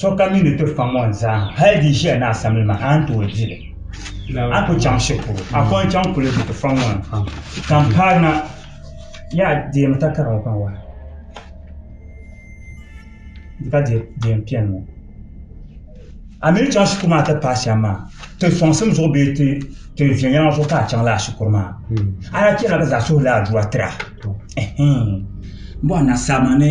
sokam mi ni ti faŋ o zaa hali di ʒiya ni asamli maa a ni tooi di li a ku chaŋ shɛli polo a ku yɛn chaŋ kuligi ni ti faŋ o ni ka n paai na yaa deemi takara ŋɔ pam wala di ka deem piɛlli ŋɔ a mi ni chaŋ shikuru maa ti paai shɛm maa ti sɔŋsim zuɣu bee ti viɛnyɛliŋga zuɣu ka a chaŋ lala shikuru maa a lahi chɛli la ka zaŋ suhudoo aduwa tira n bɔri na saa maa ni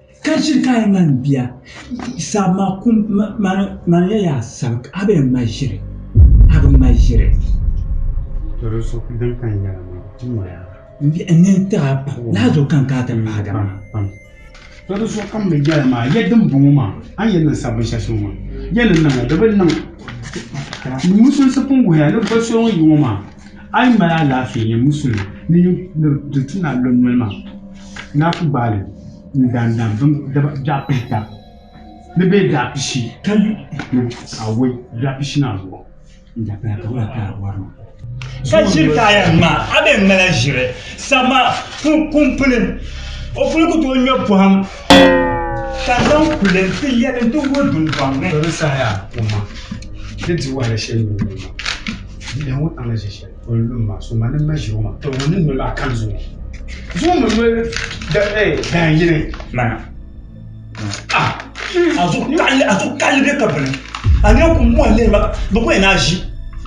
Ka chiri ka a yi mali bia sabi maa kum mani ya yaa sabi ka a bi yɛn mali ʒiri a bi mali ʒiri. Doro so din ka n yɛla maa ti noya. N nini tiɣi a pam laa zuɣu ka n kana ti pahigi a maa. Doro so ka m ni yɛli maa ya dimbɔŋɔ maa a ni yɛn niŋ sabbu shɛli soŋ maa ya ni niŋ li di bi niŋ. N musunsi pun wuhiya ni boli so ŋun yi ŋɔ maa. A yi mali alaafee ni musulim ni niŋdi ti naa lɔm noli maa, ni a ku gbaali n dan dan bini biɛɣu pihita ni bee biɛɣu pishi ka yi ni a woi biɛɣu pishi maa zuɣu n-daa paya ka wula taai wari ma. Ka ʒiri taaya nim maa, a bee n ŋmala ʒiri sabima kuŋ puli, o puli ku tooi ŋme pɔhim ka zaŋ kuli ti yɛli nti wuhi dundɔŋ ni. Tɔ di saha yaa, o ma, di dihi wahala shɛli n-niŋ ma maa. Bia ŋɔ paŋ ni ʒe shɛli o ni lu m maa so ma ni m ma ʒe o maŋ ka ŋun ni noli maa kam zuŋɔ zuŋɔ mi noli dahin yini mana a zuɣu karili be ka bini a nya kum ŋɔ n-lihiri ma ka bɛ kuli yɛn naai ʒi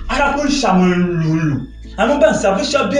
a daa kuli n-shɛm n-lu n-lu a mini ban sa binshɛɣu be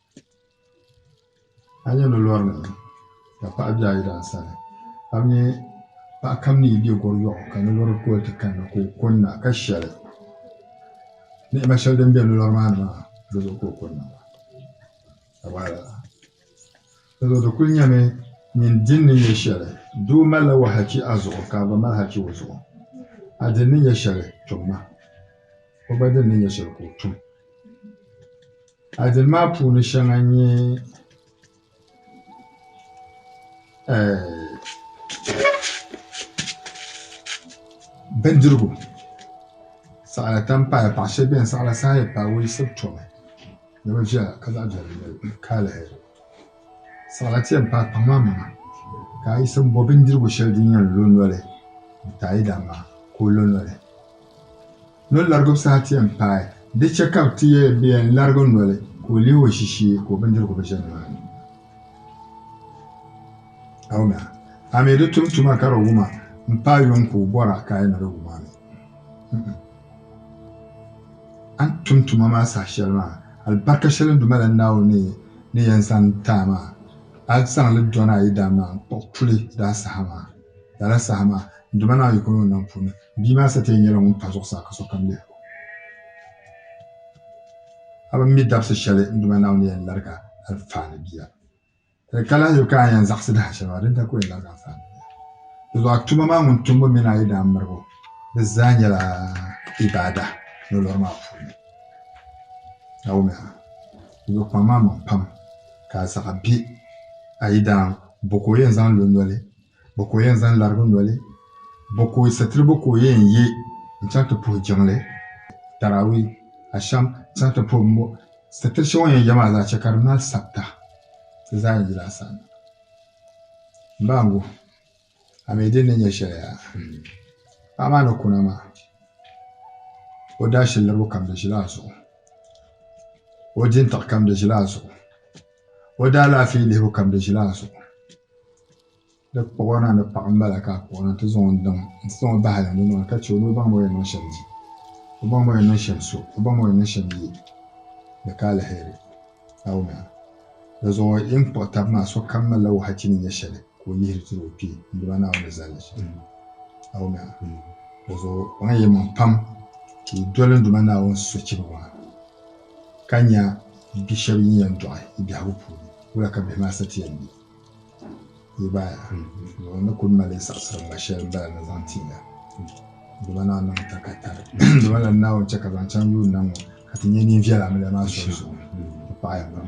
a yi yuli lori nim ŋɔ ka paɣa bɛ a yi daa sani a ni nyɛ paɣa kam ni yi bɛ gɔri yɔɣu ka ni lori kuli ti kanna ka o kunna ka shɛli ni'ima shɛli din bɛ ni lori maa ni maa di zuɣu ka o kunna maa di zuɣu di kuli nyɛmi nyin dini ni nyɛ shɛli doo mali la wahachi a zuɣu ka a gba mali hachi o zuɣu a dini ni nyɛ shɛli tum ma o gba dini ni nyɛ shɛli ka o tum Adil maa puuni shɛŋa n-nyɛ bindirigu, saɣila tam paya, paɣ shɛba beni saɣila saha yi paai wuli sib tomi ni bɛ viɛla ka zaɣ viɛla nyɛ li ka lihiri saɣila ti yɛn paai kpaŋ maa maŋa ka a yiɣisi m-bo bindirigu shɛli din yɛn lo noli n-ti a yidana maa ka o lo noli. Noli larigib saha ti yɛn paai, di chɛ ka bɛ ti yɛli bɛ yɛn larigi noli ka o lihi o ʒishee ka o bindirigu bi ʒe nimaani. Awuna, a mi di tum tuma ka di wuma m-paai yuŋ ka o bɔr a ka a yi ni di wum a mi. N-ŋ. A ni tum tuma maa saha shɛli maa, alibarika shɛli n duuma la Naawuni ni yɛn zaŋ ti a maa, a zaŋ li dɔn a yidana maa n-kpuɣ puli daa saha maa. Lala saha maa, n duuma Naawuni yiko ni o nam puuni, Bia maa satiya nyɛla ŋun pa zuɣusaa ka sokam lihir o. A bi mi dabsi shɛli n Duuma Naawuni yɛn larigi alifaani bia? Di ka lahiʒibu ka a yɛn zaɣisi di hashɛli maa, dindali ka o yɛn larigi alifaani bia. Dizuɣu a tuma maa ŋun tumbu mini a yidaan miribu di zaa nyɛla ibaada nolori maa puuni. Naawuni a ni be kpaŋ maa maŋ pam ka a zaɣa be a yidaan bo ka o yɛn zaŋ lo noli Bɔ ka o yɛn zaŋ larigi noli? Bɔ ka o satiribo ka o yɛn ye n-chaŋ ti puhi jiŋli, Tarawih, Asham, chaŋ ti puhi bimbo? Satiri shɛŋa o ni yɛn ye maa zaa chɛ ka di mali sabita. Di zaa yɛn yila a saana. M ba Angu, a mi din ni nyɛ shɛli yaa? Paɣa maa ni kuna maa, o daashilirigu kam di ʒila a zuɣu, o jintɔɣu kam di ʒila a zuɣu. O daalaafee lihibu kam di ʒila a zuɣu. Di kpuɣi o na ni paɣa m-bala ka a kpuɣi o na nti zaŋ o daŋ nti zaŋ o bahi yɛlimaŋli maa ka chɛ o ni o baŋmi o yɛn niŋ shɛm di, o baŋmi o yɛn niŋ shɛm so, o baŋmi o yɛn niŋ shɛm yi di ka aliheri Naawuni ha. Dizuɣu yin kpuɣi tab maa sokam malila wɔhachchi ni nya shɛli ka o yihiri tiri o kpee n-dima Naawuni ni zali li shɛm. Naawuni ha. Dizuɣu kpaŋ yi maŋ pam ka yi doli n-dima Naawuni sochibi maa. ka nya bi shɛba yi yɛn dɔɣi yi biɛhigu puuni, wula ka bihi maa sa ti yɛn be? Yi gba ni kul mali saɣisiri ŋma shɛli m-bala ni zaŋ ti ya. Dama naa niŋ ta ka tari. Dama lala Naawuni chɛ ka zaŋ chaŋ yuun na ŋɔ ka ti nya nin viɛla amiliya maa soli zuɣu. Di paɣiya pam.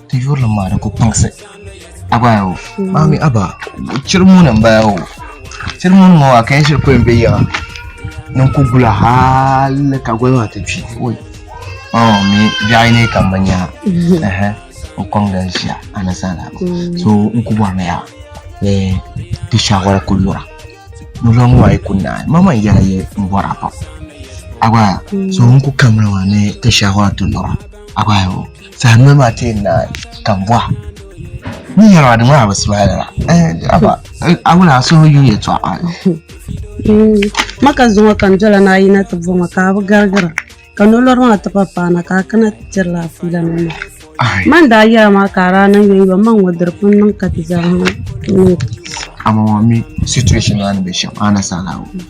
Ti yurilim maa di ku kpaŋsi. Abaya o. Maami aba chiri muni n bala o. Chiri muni ŋɔ a kan shiri kuli be yiŋa. Nin ku gula hali ka goli maa ti kpi. Oi. Oh mi biɛɣi ni kam bi nya. Ehe. N kɔŋ dal ʒia a ni zala. So n ku bɔri mi ya ni ti shawara ku lura. Ni lɔŋ ŋɔ a yi ku naai. Ma man yɛla yi n bɔri a pam. Abaya so n ku kamli maa ni ti shawara ti lura. Abaya o. Saha noli maa tee na ka bɔha ni yɛli maa di maa bi smile la aba a wula a suhu yu yɛtɔɣa maka zuŋɔ ka n dola ni a yina ti bɔŋɔ ka a bi garigira ka nolori maa ti pa paana ka a kana ti tiri la a fiila nim maa man daa yɛra maa ka a daa niŋ yɔn yɔn maŋ ŋɔ diri pun niŋ ka ti zaa niŋ a ma ŋɔ mi situation maa ni bɛ shɛm a na saɣila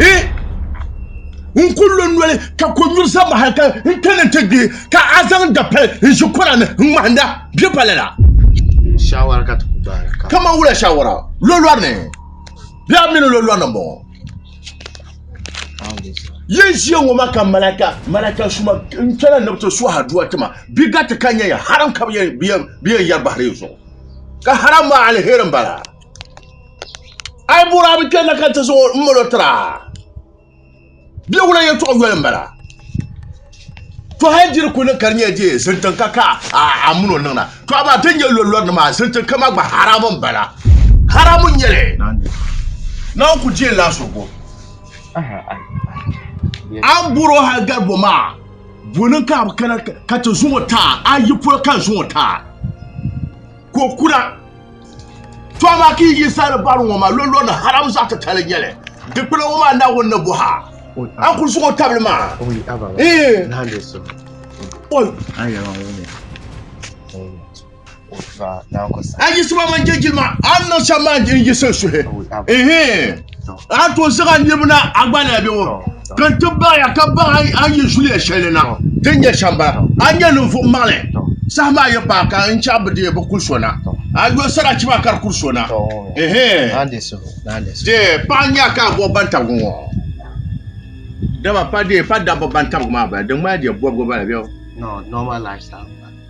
e n ku lo noli ka ko nyuri sa mahal ka n kani n ti gbihi ka a zaŋ dapali n ʒi kɔra ni n ŋmahinda bɛ pali la shawara ka ti ku baara ka kama wula shawara lolɔri ni bɛ a mini lolɔri ni bɔŋɔ yin ʒiya ŋɔ ma ka malaka malaka suma n kpɛla ni bi ti suha duwa tima bi gati ka nyɛ ya haram ka bi yɛn yɛri bahiri zuɣu ka haram maa alheri n bala ai bɔra bi kpɛnna ka ti zuɣu n mali tira bɛ wula yɛtɔɣa yoli n bala to hali diri ku niŋ ka di nyɛ dee zintiŋ ka ka a muno niŋna to amaa ti nyɛ lolori nima zintiŋ kama gba haramu n bala haramu nyɛli na n ku diɛ la so bo an bɔra hali gari bo maa bɔnin ka bi kana ka ti zuŋɔ taa a yi polo ka zuŋɔ taa ko kura To a maa ka yi yi saani bari ŋɔ maa lolɔ ni haram zaɣ titali nyɛli. Dikpina ŋɔ maa Naawuni ni bɔh a, a kul suŋ o tabili maa. A yiɣisima mani jɛjilima, a ni niŋ shɛm maa n-yiɣisi n suhi. a to zaŋ a niriba na a gba na bɛ ŋɔ ka n ti baɣa ya ka baɣa a yi zuliya shɛli na ti nyɛ shɛmba a nyɛ ninvuɣ maŋli saha maa yi paai ka n chɛ a bi deei bi kuli so na a yo sarati maa ka di kuli so na dee pa n nya ka a bɔbi bantabigu ŋɔ dama pa dee pa dabba bantabigu maa bala di ŋmanila dee bɔbigu bala bɛ